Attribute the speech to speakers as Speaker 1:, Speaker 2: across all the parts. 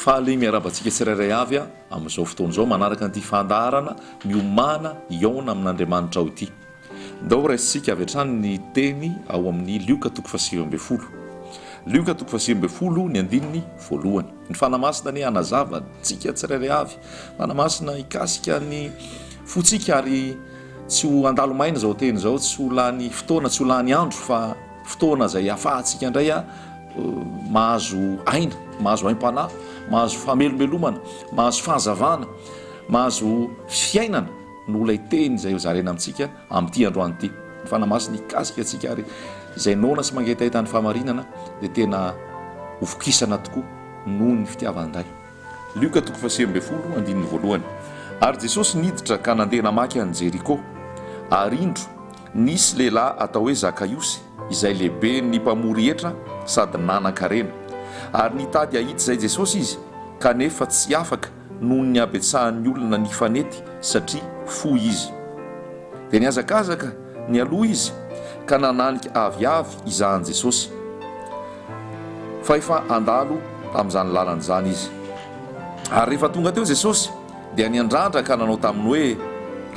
Speaker 1: Faly miarahaba antsika tsirairay avy amin'izao fotoana izao manaraka an'ity fandaharana miomàna hihaona amin'Andriamanitra aho ity. Ndao raisintsika avy hatrany ny teny ao amin'ny Lioka toko fahasivy ambin'ny folo. Lioka toko fahasivy ambin'ny folo ny andininy voalohany. Ny Fanahy Masina anie hanazava antsika tsirairay avy. Fanahy Masina hikasika ny fontsika ary tsy ho handalo maina izao teny izao, tsy ho lany fotoana, tsy ho lany andro fa fotoana izay hafahantsika indray mahazo aina, mahazo aim-panahy, mahazo famelomelomana, mahazo fahazavana, mahazo fiainana. noho ilay Teny izay ho zaraina amintsika amin'ity androany ity. Ny Fanahy Masina hikasika antsika ary izay noana sy mangetaheta ny fahamarinana dia tena ho vokisana tokoa noho ny fitiavany indray. Lioka toko fahasivy ambin'ny folo andininy voalohany Ary Jesosy niditra ka nandeha namaky an'i Jeriko. Ary indro, nisy lehilahy atao hoe Zakaiosy, izay lehiben'ny mpamory hetra sady nanan-karena. Ary nitady hahita izay Jesosy izy, kanefa tsy afaka, noho ny habetsahan'ny olona nifanety satria fohy izy. Dia nihazakazaka nialoha izy ka nananika aviavy hizahan'i Jesosy, fa efa handalo tamin'izany lalana izany izy. Ary rehefa tonga teo Jesosy, dia niandrandra ka nanao taminy hoe,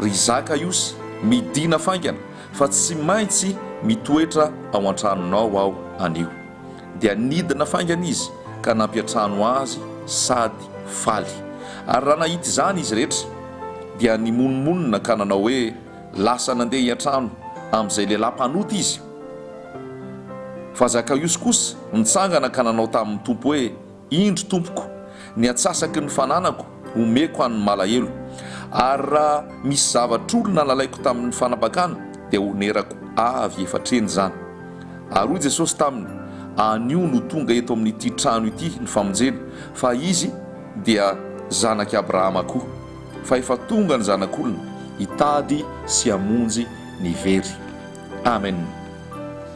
Speaker 1: Ry Zakaiosy, midìna faingana, fa tsy maintsy mitoetra ao an-tranonao aho anio. dia nidina faingana izy ka nampiantrano azy sady faly. Ary raha nahita izany izy rehetra, dia nimonomonona ka nanao hoe, Lasa nandeha hiantrano amin'izay lehilahy mpanota izy. Fa Zakaosy kosa nitsangana ka nanao tamin'ny Tompo hoe, Indro, tompoko, ny antsasaky ny fananako homeko an'ny malahelo, ary raha misy zavatr'olona nalaiko tamin'ny fanambakana, dia honerako avy efa hatreny izany. Ary hoy Jesosy taminy, Anio no tonga eto amin'ity trano ity ny famonjena, fa izy dia zanak'i Abrahama koa. Fa efa tonga ny Zanak'olona hitady sy hamonjy ny very. Amen.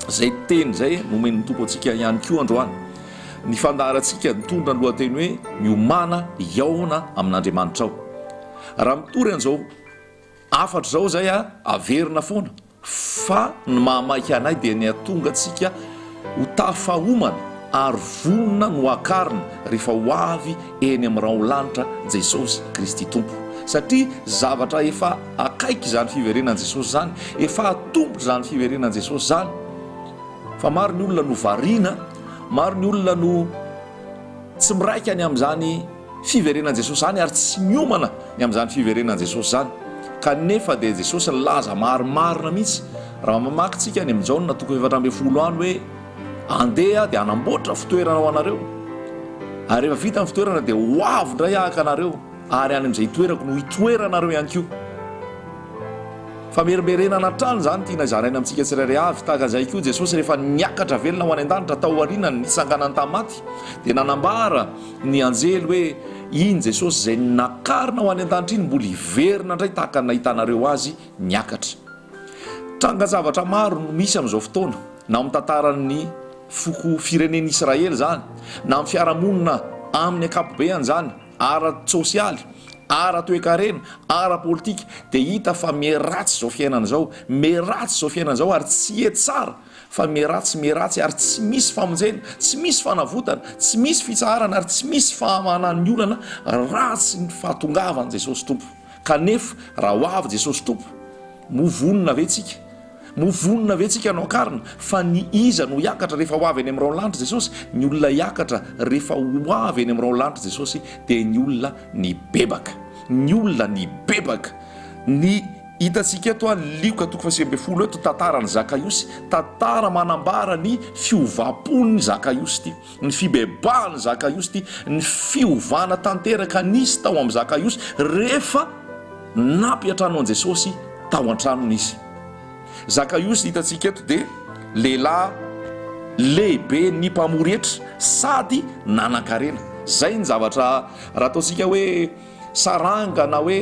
Speaker 1: Izay teny izay nomen'ny Tompo antsika ihany koa androany, Ny fandaharantsika nitondra ny lohateny hoe Miomàna hihaona amin'Andriamanitrao. Raha mitory an'izao hafatra izao izay, averina foana fa ny mahamaika anay dia ny hahatonga antsika ho tafahomana ary vonona no hakarina rehefa ho avy eny amin'ny raho lanitra Jesosy Kristy Tompo. Satria zavatra efa akaiky izany fiverenan'i Jesosy izany, efa hatombotra izany fiverenan'i Jesosy izany, fa maro ny olona no variana. Maro ny olona no tsy miraika ny amin'izany fiverenan'i Jesosy izany ary tsy miomana ny amin'izany fiverenan'i Jesosy izany. Kanefa dia Jesosy nilaza marimarina mihitsy raha mamaky tsika any amin'ny Jaona toko efatra ambin'ny folo any hoe andeha dia hanamboatra fitoerana ho anareo ary rehefa vita ny fitoerana dia ho avy indray haka anareo. Ary any amin'izay itoerako no hitoeranareo ihany koa. Famerimberenana hatrany izany tiana izaraina amintsika tsirairay avy. Tahaka izay koa, Jesosy rehefa niakatra velona ho any an-danitra, taorian'ny nitsanganany tamin'ny maty, dia nanambara ny anjely hoe, Iny Jesosy izay nakarina ho any an-danitra iny mbola hiverina indray tahaka ny nahitanareo azy niakatra. Trangan-javatra maro no misy amin'izao fotoana, na ao amin'ny tantaran'ny foko firenen'Israely izany, na amin'ny fiarahamonina amin'ny ankapobehany izany, ara-tsosialy, ara-toekarena, ara-politika dia hita fa miharatsy izao fiainana izao, miharatsy izao fiainana izao ary tsy hiatsara fa miharatsy, miharatsy ary tsy misy famonjena, tsy misy fanavotana, tsy misy fitsaharana ary tsy misy fahamanan'ny olana raha tsy ny fahatongavan'i Jesosy Tompo. Kanefa raha ho avy Jesosy Tompo, moa vonona ve tsika? Moa vonona ve tsika hanao karina? Fa ny iza no hiakatra rehefa ho avy any amin'irao lanitra Jesosy? Ny olona hiakatra rehefa ho avy any amin'irao lanitra Jesosy dia ny olona nibebaka. Ny olona nibebaka. Ny hitantsika eto a, Lioka toko fahasivy ambin'ny folo eto, tantaran'i Zakaiosy. Tantara manambara ny fiovam-pon'i Zakaiosy ity. Ny fibebahan'i Zakaiosy dia ny fiovana tanteraka nisy tao amin'i Zakaiosy rehefa nampiantrano an'i Jesosy tao an-tranony izy. Zakaiosy hitantsika eto dia lehilahy lehibe ny mpamory hetra sady nanan-karena. Izay ny zavatra raha ataontsika hoe saranga na hoe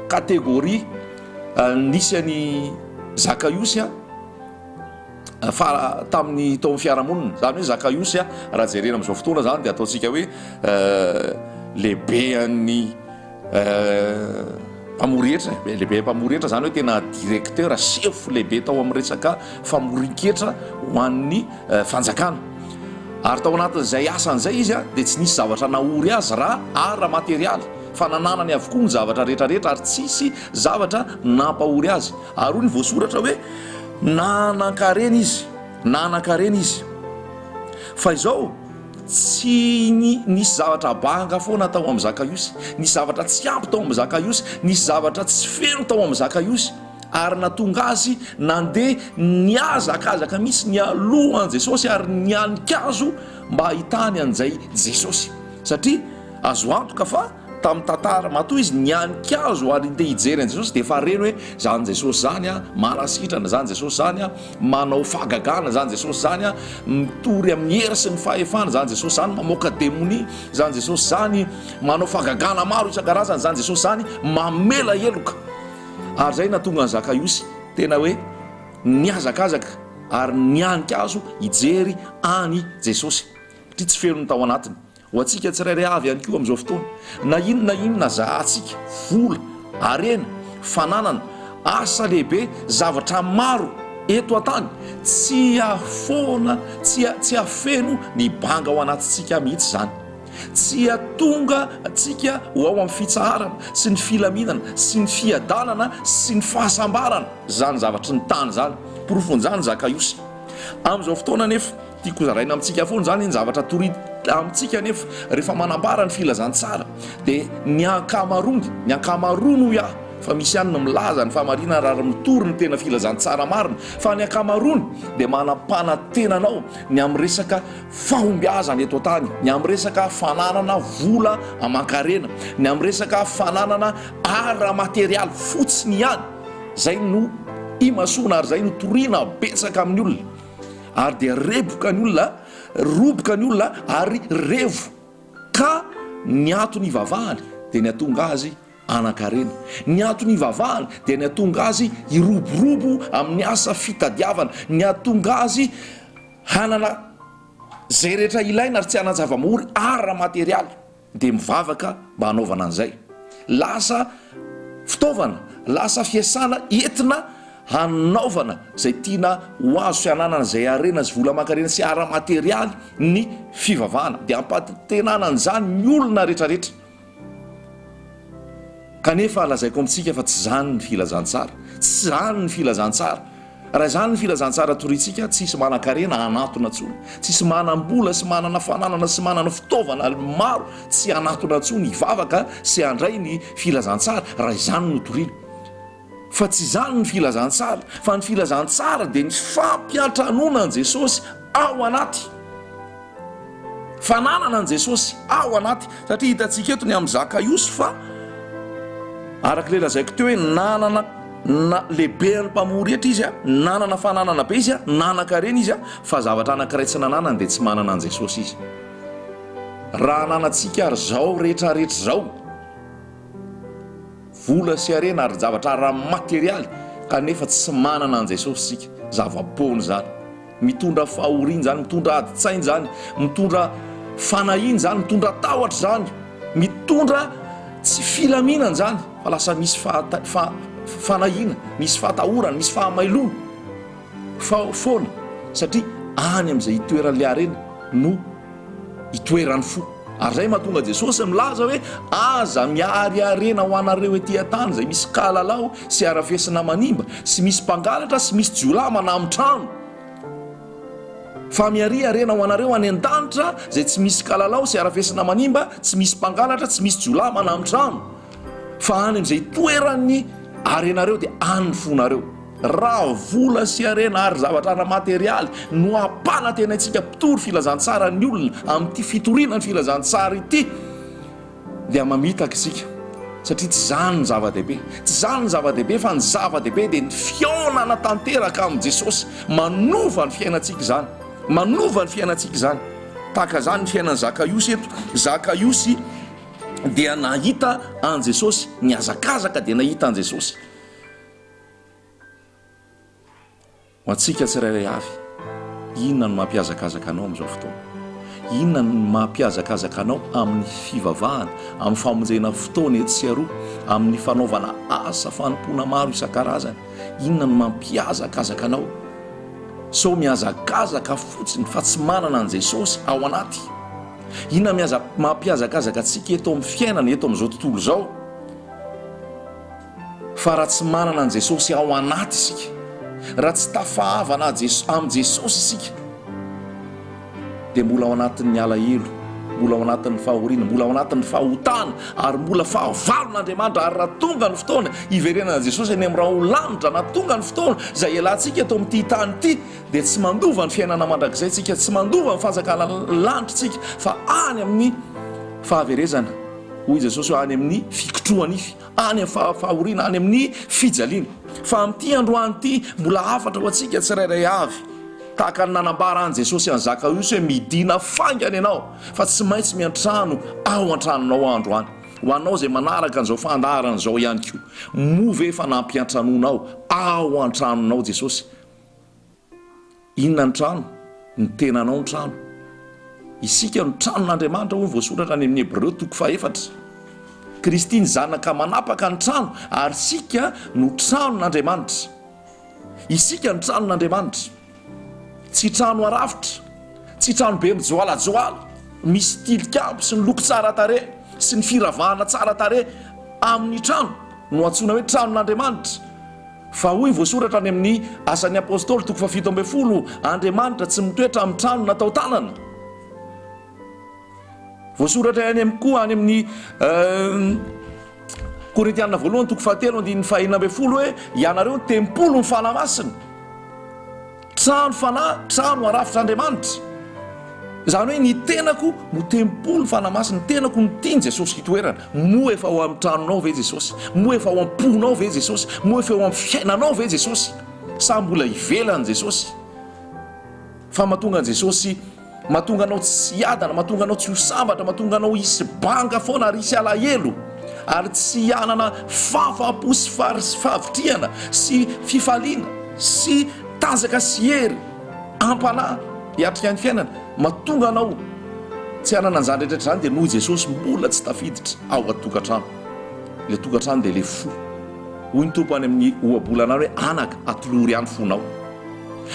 Speaker 1: catégorie nisy an'i Zakaiosy. fa tamin'ny tao amin'ny fiarahamonina, izany hoe Zakaiosy, raha jerena amin'izao fotoana izany dia ataontsika hoe lehibehan'ny mpamory hetra, lehibehan'ny mpamory hetra izany hoe tena directeur, sefo lehibe tao amin'ny resaka famorin-ketra ho an'ny fanjakana. Ary tao anatin'izay asany izay izy dia tsy nisy zavatra nahory azy raha ara-materialy fa nananany avokoa ny zavatra rehetra rehetra ary tsisy zavatra nampahory azy. Ary hoy ny voasoratra hoe, Na hanan-karena izy, na hanan-karena izy. Fa izao, tsy ny, nisy zavatra banga foana tao amin'i Zakaiosy, nisy zavatra tsy ampy tao amin'i Zakaiosy, nisy zavatra tsy feno tao amin'i Zakaiosy, ary nahatonga azy nandeha nihazakazaka mihitsy nialoha an'i Jesosy ary nihanin-kazo mba hahitany an'izay Jesosy, satria azo antoka fa. Tamin'ny tantara, matoa izy nihanin-kazo ary te hijery an'i Jesosy dia efa reny hoe, Zany Jesosy zany a, manasitrana, zany Jesosy zany a, manao fahagagana, zany Jesosy zany a, mitory amin'ny hery sy ny fahefana, zany Jesosy zany, mamoaka demonia, zany Jesosy zany, manao fahagagana maro isan-karazany, zany Jesosy zany, mamela heloka. Ary zay nahatonga an'i Zakaiosy tena hoe nihazakazaka ary nihanin-kazo hijery an'i Jesosy, satria tsy feno ny tao anatiny. Ho antsika tsirairay avy ihany koa amin'izao fotoana, na inona na inona zahantsika, vola, harena, fananana, asa lehibe, zavatra maro eto an-tany, tsy hahafoana, tsy tsy hahafeno ny banga ao anatintsika mihitsy izany. Tsy hahatonga antsika ho ao amin'ny fitsaharana sy ny filaminana sy ny fiadanana sy ny fahasambarana izany zavatry ny tany izany. Porofon'izany Zakaiosy. Amin'izao fotoana anefa. Tiako hozaraina amintsika foana izany ny zavatra torita amintsika anefa rehefa manambara ny filazantsara dia ny ankamaroany, ny ankamaroany hoy aho fa misy ihany ny milaza ny fahamarinana raha mitory ny tena filazantsara marina fa ny ankamaroany dia manampanantena anao ny amin'ny resaka fahombiazana eto an-tany, ny amin'ny resaka fananana vola aman-karena, ny amin'ny resaka fananana ara-materialy fotsiny ihany izay no imasoana ary izay no toriana betsaka amin'ny olona. ary dia reboka ny olona, roboka ny olona ary revo ka ny ato nivavahany dia ny hatonga azy hanankarena, ny ato nivavahany dia ny hatonga azy hiroborobo amin'ny asa fitadiavana, ny hatonga azy hanana izay rehetra ilaina ary tsy hanan-javamory ara-materialy. dia mivavaka mba hanaovana an'izay. Lasa fitaovana, lasa fiasana entina hanaovana izay tiana ho azo sy hananana izay harena sy vola aman-karena sy ara-materialy ny fivavahana. Dia ampanantenana an'izany ny olona rehetrarehetra. Kanefa lazaiko amintsika fa tsy izany ny filazantsara. Tsy izany ny filazantsara. Raha izany ny filazantsara toriantsika, tsy hisy manan-karena hanatona intsony, tsy hisy manam-bola sy manana fananana sy manana fitaovana maro tsy hanatona intsony hivavaka sy handray ny filazantsara, raha izany no toriana. Fa tsy izany ny filazantsara, fa ny filazantsara dia ny fampiantranoana an'i Jesosy ao anaty. Fananana an'i Jesosy ao anaty, satria hitantsika eto ny amin'i Zakaiosy fa araka ilay lazaiko teo hoe nanana na lehiben'ny mpamory hetra izy a, nanana fananana be izy a, nanan-karena izy a, fa zavatra anankiray tsy nananany dia tsy manana an'i Jesosy izy. Raha ananantsika ary izao rehetra rehetra izao, vola sy harena ary zavatra ara-materialy, kanefa tsy manana an'i Jesosy isika, zava-poana izany. Mitondra fahoriana izany, mitondra adin-tsaina izany, mitondra fanahiana izany, mitondra tahotra izany, mitondra tsy filaminana izany, fa lasa misy fanahiana, misy fahatahorana, misy fahamailoana fa foana satria any amin'izay itoeran'ilay harena no Itoeran'ny fo. Ary izay mahatonga Jesosy milaza hoe, Aza miary harena ho anareo ety an-tany izay misy kalalao sy harafesina manimba, sy misy mpangalatra sy misy jiolahy manamon-trano, fa miaria harena ho anareo any an-danitra izay tsy misy kalalao sy harafesina manimba, tsy misy mpangalatra, tsy misy jiolahy manamon-trano, fa any amin'izay itoeran'ny harenareo dia any ny fonareo. Raha vola sy harena ary zavatra ara-materialy no hampanantenaintsika mpitory filazantsaran'ny olona amin'ity fitoriana ny filazantsara ity dia mamitaka isika satria tsy izany no zava-dehibe. Tsy izany no zava-dehibe fa ny zava-dehibe dia ny fihaonana tanteraka amin'i Jesosy. Manova ny fiainantsika izany. Manova ny fiainantsika izany. Tahaka izany ny fiainan'i Zakaiosy eto. Zakaiosy dia nahita an'i Jesosy. Nihazakazaka dia nahita an'i Jesosy. Ho antsika tsirairay avy, inona no mampihazakazaka anao amin'izao fotoana? Inona no mampihazakazaka anao amin'ny fivavahana, amin'ny famonjena fotoana etsy sy eroa, amin'ny fanaovana asa fanompoana maro isan-karazany? Inona no mampihazakazaka anao? Sao mihazakazaka fotsiny fa tsy manana an'i Jesosy ao anaty? Inona mihaza- mampihazakazaka antsika eto amin'ny fiainana, eto amin'izao tontolo izao? Fa raha tsy manana an'i Jesosy ao anaty isika, raha tsy tafahavana amin'i Jesosy isika, dia mbola ao anatin'ny alahelo, mbola ao anatin'ny fahoriana, mbola ao anatin'ny fahotana, ary mbola fahavalon'Andriamanitra. Ary raha tonga ny fotoana hiverenana an'i Jesosy any amin'ny rahona lanitra, na tonga ny fotoana izay hialantsika eto amin'ity tany ity, dia tsy mandova ny fiainana mandrakizay isika, tsy mandova ny fanjakana lanitra isika, fa any amin'ny fahaverezana, hoy i Jesosy hoe any amin'ny fikotrohan'ify. any amin'ny fahafahoriana, any amin'ny fijaliana. Fa amin'ity androany ity, mbola hafatra ho antsika tsirairay avy, tahaka ny nanambara an'i Jesosy an'i Zakaosy hoe, Midìna faingana ianao, fa tsy maintsy miantrano ao an-tranonao aho androany. Ho anao izay manaraka an'izao fandaharana izao ihany koa, moa ve efa nampiantranonao ao an-tranonao Jesosy? Inona ny trano? Ny tenanao ny trano. Isika no tranon'Andriamanitra hoy ny voasoratra any amin'ny Hebreo toko fahefatra. Kristy ny Zanaka manapaka ny trano ary isika no tranon'Andriamanitra. Isika no tranon'Andriamanitra. Tsy trano arafitra, tsy trano be mijoalajoala, misy tilikambo sy ny loko tsara tarehy sy ny firavahana tsara tarehy amin'ny trano no antsoina hoe tranon'Andriamanitra. Fa hoy voasoratra any amin'ny Asan'ny Apostoly toko fahafito ambin'ny folo, Andriamanitra tsy mitoetra amin'ny trano natao tanana. Voasoratra ihany am koa any amin'ny Korintiana voalohany toko fahatelo andininy fahenina ambin'ny folo hoe, Ianareo no tempolin'ny Fanahy Masina. Trano fanahy, trano arafitr'Andriamanitra. Izany hoe ny tenako no tempoly fanamasin'ny, ny tenako no tian'i Jesosy hitoerana. Moa efa ao amin'ny tranonao ve Jesosy? Moa efa ao am-ponao ve Jesosy? Moa efa eo amin'ny fiainanao ve Jesosy? Sa mbola ivelan'i Jesosy? Fa mahatonga an'i Jesosy Mahatonga anao tsy hiadana, mahatonga anao tsy ho sambatra, mahatonga anao hisy banga foana ary hisy alahelo, ary tsy hanana fahafaham-po sy fahari- sy fahavitrihana sy fifaliana sy tanjaka sy hery am-panahy hiatrika ny fiainana. Mahatonga anao tsy hanana an'izany rehetra izany dia noho i Jesosy mbola tsy tafiditra ao an-tokantrano. Ilay tokantrano dia ilay fo. Hoy ny Tompo any amin'ny ohabolana any hoe, Anaka, atolory ahy ny fonao.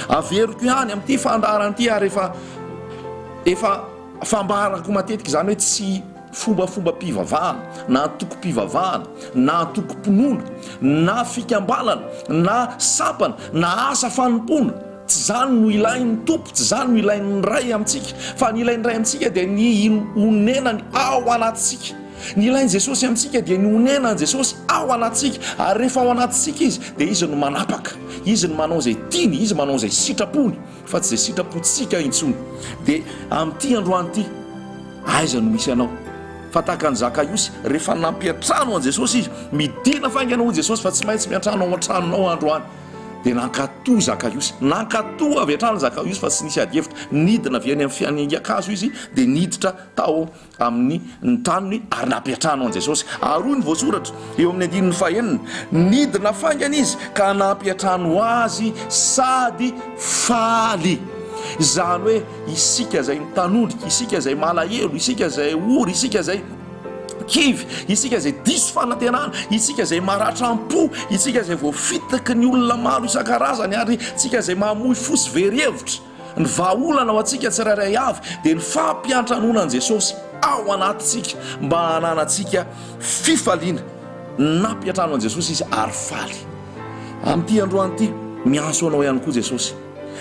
Speaker 1: Averiko ihany amin'ity fandaharana ity ary efa efa fambarako matetika izany hoe tsy fombafombam-pivavahana na antokom-pivavahana na antokom-pinoana na fikambanana na sampana na asa fanompoana tsy izany no ilain'ny tompo tsy izany no ilain'ny ray amintsika fa ny ilain'ny ray amintsika dia ny onenany ao anatintsika Ny ilain'i Jesosy amintsika dia ny honenan'i Jesosy ao anatintsika, ary rehefa ao anatintsika Izy dia Izy no manapaka, Izy no manao izay tiany, Izy manao izay sitrapony fa tsy izay sitrapontsika intsony. Dia amin'ity androany ity, aiza no misy anao? Fa tahaka an'i Zakaiosy, rehefa nampiantrano an'i Jesosy izy, midina faingana hoy Jesosy fa tsy maintsy miantrano ao an-tranonao aho androany. Dia nankatò i Zakaiosy, nankatò avy hatrany i Zakaiosy fa tsy nisy adihevitra. Nidina avy eny amin'ny fianingan-kazo izy dia niditra tao amin'ny ny taniny ary nampiantrano an'i Jesosy. Ary hoy ny voasoratra eo amin'ny andininy fahenina, nidina faingana izy ka nampiantrano azy sady faly. Izany hoe isika izay mitanondrika, isika izay malahelo, isika izay ory, isika izay kivy, isika izay diso fanantenana, isika izay maratram-po, isika izay voafitaky ny olona maro isan-karazany ary isika izay mamoy fo sy very hevitra. Ny vahaolana ho antsika tsirairay avy dia ny fampiantranoana an'i Jesosy ao anatintsika mba hananantsika fifaliana. Nampiantrano an'i Jesosy izy ary faly. Amin'ity androany ity, miantso anao ihany koa Jesosy.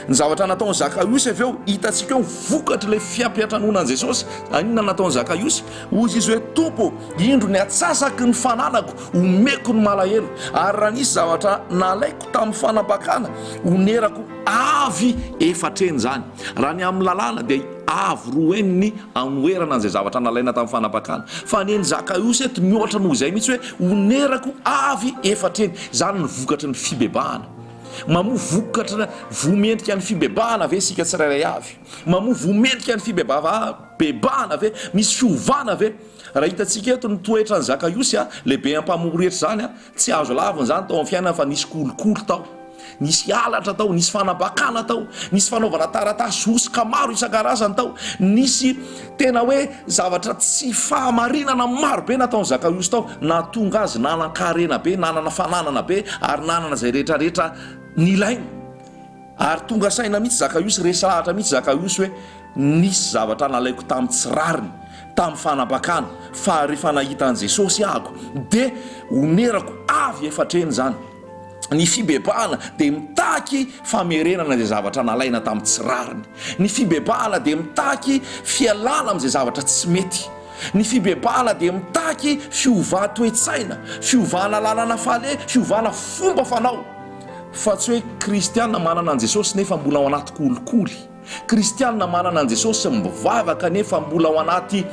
Speaker 1: Ny zavatra nataon'i Zakaiosy avy eo, hitantsika eo ny vokatr'ilay fiampiantranoana an'i Jesosy. Inona nataon'i Zakaiosy? Hoy izy hoe, Tompo, indro ny atsasaky ny fananako omeko ny malahelo, ary raha nisy zavatra nalaiko tamin'ny fanambakana, onerako. Avy efatra heny izany. Raha ny amin'ny lalàna dia avy roa heny ny anoherana an'izay zavatra nalaina tamin'ny fanapakana. Fa ny an'i Zakaiosy eto mihoatra noho izay mihitsy hoe onerako avy efatra heny. Izany ny vokatry ny fibebahana. Mamoa vokatra voa mendrika ny fibebahana ve isika tsirairay avy? Mamoa voa mendrika ny fibebahana ve? Misy fiovana ve? Raha hitantsika eto ny toetran'i Zakaiosy, lehibe ampaham-ory hetra izany, Tsy azo lavina izany tao amin'ny fiainana fa nisy kolikoly tao, nisy halatra tao, nisy fanambakana tao, nisy fanaovana taratasy hosoka maro isan-karazany tao, nisy tena hoe zavatra tsy fahamarinana maro be nataon'i Zakaiosy tao, nahatonga azy nanan-karena be, nanana fananana be ary nanana izay rehetra rehetra nilainy. Ary tonga saina mihitsy Zakaiosy, resahatra mihitsy Zakaiosy hoe nisy zavatra nalaiko tamin'ny tsy rariny, tamin'ny fanambakana, fa rehefa nahita an'i Jesosy ahako, dia onerako avy efatreno izany. Ny fibebahana dia mitaky famerenana izay zavatra nalaina tamin'ny tsy rariny. Ny fibebahana dia mitaky fialana amin'izay zavatra tsy mety. Ny fibebahana dia mitaky fiovà-toetsaina, fiovàna làlana fale, fiovàna fomba fanao. fa tsy hoe kristiana manana an'i Jesosy nefa mbola ao anaty kolikoly, kristiana manana an'i Jesosy mivavaka nefa mbola ao anaty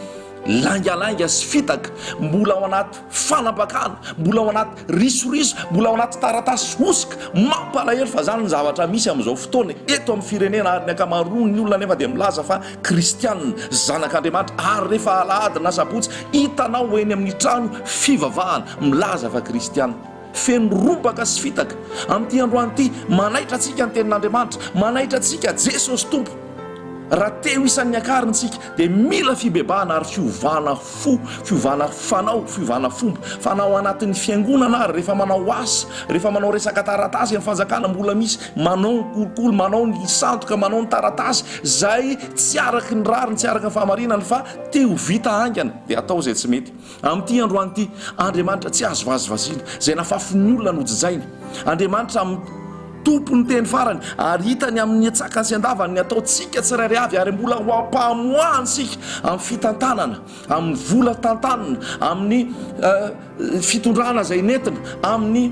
Speaker 1: laingalainga sy fitaka, mbola ao anaty fanampakana, mbola ao anaty risoriso, mbola ao anaty taratasy hosoka. Mampalahelo fa izany ny zavatra misy amin'izao fotoana eto amin'ny firenena ary ny ankamaroan'ny olona nefa dia milaza fa kristiana, zanak'Andriamanitra ary rehefa alahady na sabotsy hitanao eny amin'ny trano fivavahana milaza fa kristiana. feno robaka sy fitaka. Amin'ity androany ity, manaitra antsika ny Tenin'Andriamanitra, manaitra antsika Jesosy Tompo. Raha te ho isan'ny akariny isika, dia mila fibebahana ary fiovana fo, fiovana fanao, fiovana fomba. Fa na ao anatin'ny fiangonana ary, rehefa manao asa, rehefa manao resaka taratasy amin'ny fanjakana, mbola misy manao ny kolikoly, manao ny sandoka, manao ny taratasy, izay tsy araky ny rariny, tsy araky ny fahamarinany, fa te ho vita haingana, dia atao izay tsy mety. Amin'ity androany ity, Andriamanitra tsy azo vazivaziana, izay nafafin'olona nojijaina. Andriamanitra Tompon'ny teny farany, ary hitany amin'ny antsakany sy andavany ny ataontsika tsirairay avy, ary mbola ho ampamoahany isika amin'ny fitantanana, amin'ny vola tantanina, amin'ny fitondrana izay nentina, amin'ny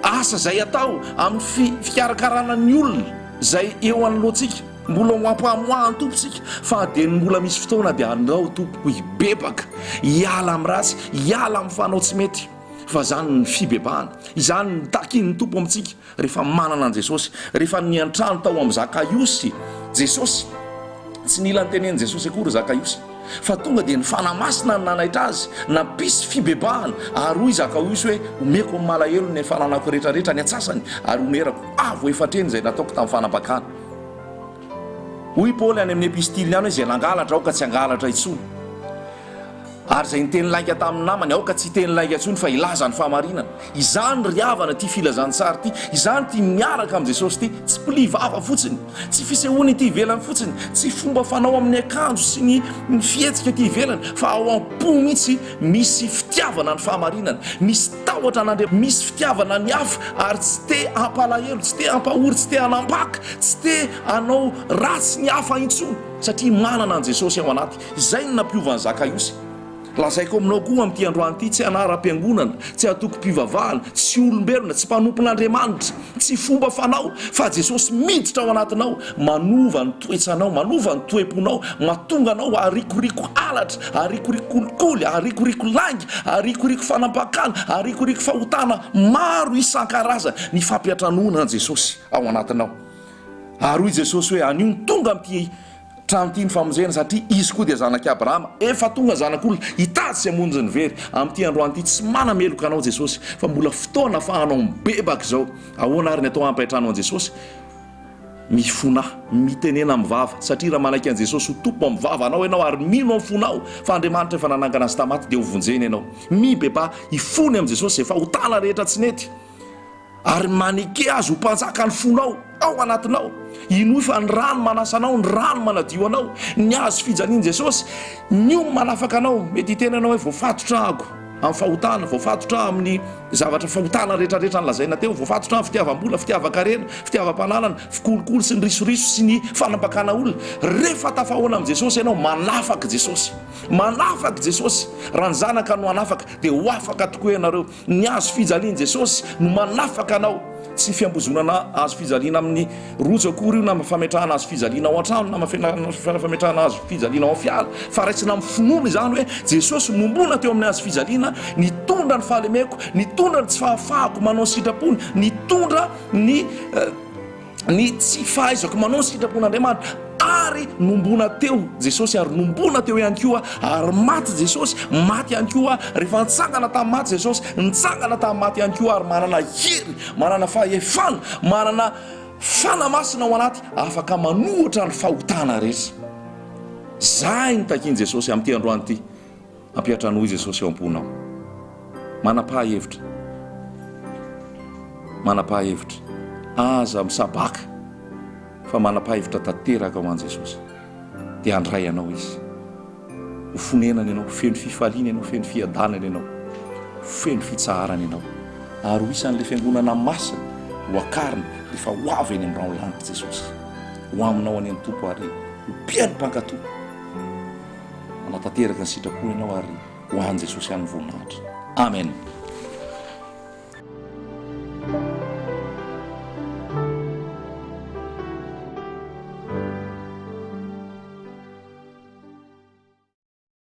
Speaker 1: asa izay atao, amin'ny fikarakarana ny olona izay eo anoloantsika. Mbola ho ampamoahan'ny Tompo isika, fa dia ny mbola misy fotoana dia andao tompoko hibebaka, hiala amin'ny ratsy, hiala amin'ny fanao tsy mety, fa izany ny fibebahana, izany ny takin'ny Tompo amintsika rehefa manana an'i Jesosy, rehefa niantrano tao amin'i Zakaiosy Jesosy, tsy nila notenenin'i Jesosy akory Zakaiosy, fa tonga dia ny Fanahy Masina no nanaitra azy, nampisy fibebahana, ary hoy Zakaiosy hoe, omeko ny malahelo ny fananako rehetra rehetra, ny antsasany ary omerako, avo efa hatreny izay nataoko tamin'ny fanambakana. Hoy Paoly any amin'ny epistiliny any hoe, Izay nangalatra, aoka tsy hangalatra intsony. Ary izay niteny lainga tamin'ny namany, aoka tsy hiteny lainga intsony fa hilaza ny fahamarinana. Izany ry havana ity filazantsara ity, izany ity miaraka amin'i Jesosy ity. Tsy pli vava fotsiny, tsy fisehoana ety ivelany fotsiny, tsy fomba fanao amin'ny akanjo sy ny fihetsika ety ivelany, fa ao am-po mihitsy Misy fitiavana ny fahamarinana, misy tahotra an'Andriamanitra, misy fitiavana ny hafa ary tsy te hampalahelo, tsy te hampahory, tsy te hanambaka, tsy te hanao ratsy ny hafa intsony satria manana an'i Jesosy ao anaty. Izay no nampiova an'i Zakaiosy. Lazaiko aminao koa amin'ity androany ity, tsy anaram-piangonana, tsy antokom-pivavahana, tsy olombelona, tsy mpanompon'Andriamanitra, Tsy fomba fanao, fa Jesosy miditra ao anatinao, manova ny toetsanao, manova ny toe-ponao, matonga anao harikoriko halatra, harikoriko kolikoly, harikoriko lainga, harikoriko fanampakana, harikoriko fahotana maro isan-karazany, ny fampiantranoana an'i Jesosy ao anatinao. Ary hoy Jesosy hoe, anio ny tonga amin'ity. Trano tiany famonjena satria izy koa dia zanak'i Abrahama. Efa tonga zanak'olona hitady sy hamonjy ny very. Amin'ity androany ity tsy manameloka anao Jesosy fa mbola fotoana afahanao mibebaka izao. Ahoana ary ny atao hampaitrano an'i Jesosy? Mifona, mitenena amin'ny vava satria raha manaiky an'i Jesosy ho Tompo amin'ny vavanao ianao ary mino amin'ny fonao fa Andriamanitra efa nanangana azy tamaty dia hovonjeny ianao. Mibebaha hifona amin'i Jesosy izay fahotana rehetra tsy nety. Ary maneke azy ho mpanjaka ny fonao ao anatinao. Hinoy fa ny rano manasa anao, ny rano manadio anao, ny hazo fijalian'i Jesosy, ny homy manafaka anao. Mety hiteny ianao hoe, Voafatotra aho amin'ny fahotana, voafatotra aho amin'ny zavatra fahotana rehetrarehetra nolazaina teo, voafatotra aho amin'ny fitiavam-bola, fitiavan-karena, fitiavam-pananana, fikolokolo sy ny risoriso sy ny fanambakana olona. Rehefa tafahaona amin'i Jesosy ianao, manafaka i Jesosy. Manafaka i Jesosy. Raha ny Zanaka no hanafaka, dia ho afaka tokoa ianareo. Ny hazo fijalian'i Jesosy no manafaka anao, tsy fiambozonana hazo fijaliana amin'ny rojo akory io, na fametrahana hazo fijaliana ao an-trano, na fametrahana hazo fijaliana ao amin'ny fiara, fa raisina amin'ny finoana izany hoe Jesosy nohomboana teo amin'ny hazo fijaliana, nitondra ny fahalemeko, nitondra ny tsy fahafahako manao ny sitrapony, nitondra ny. ny tsy fahaizako manao ny sitrapon'Andriamanitra ary nombona teo Jesosy ary nombona teo ihany koa ary maty Jesosy maty ihany koa rehefa nitsangana tamin'ny maty Jesosy nitsangana tamin'ny maty ihany koa ary manana hery manana fahefana manana fana masina ao anaty afaka manohitra ny fahotana rehetra zay ny takian'i Jesosy amin'ity androany ity Hampihatra anao i Jesosy eo am-ponao. Manapaha hevitra. Manapaha hevitra. Aza misabaka fa manapaha hevitra tanteraka ho an'i Jesosy. Dia handray anao Izy. Ho fonenany ianao, feno fifaliana ianao, feno fiadanana ianao, feno fitsaharana ianao. Ary ho isan'ilay fiangonana masina hoakarina rehefa ho avy eny amin'ny raho-lanitra Jesosy. Ho aminao anie ny Tompo ary ho mpihaino mpankato. Hanatanteraka ny sitrapony ianao ary ho an'i Jesosy ihany ny voninahitra. Amen.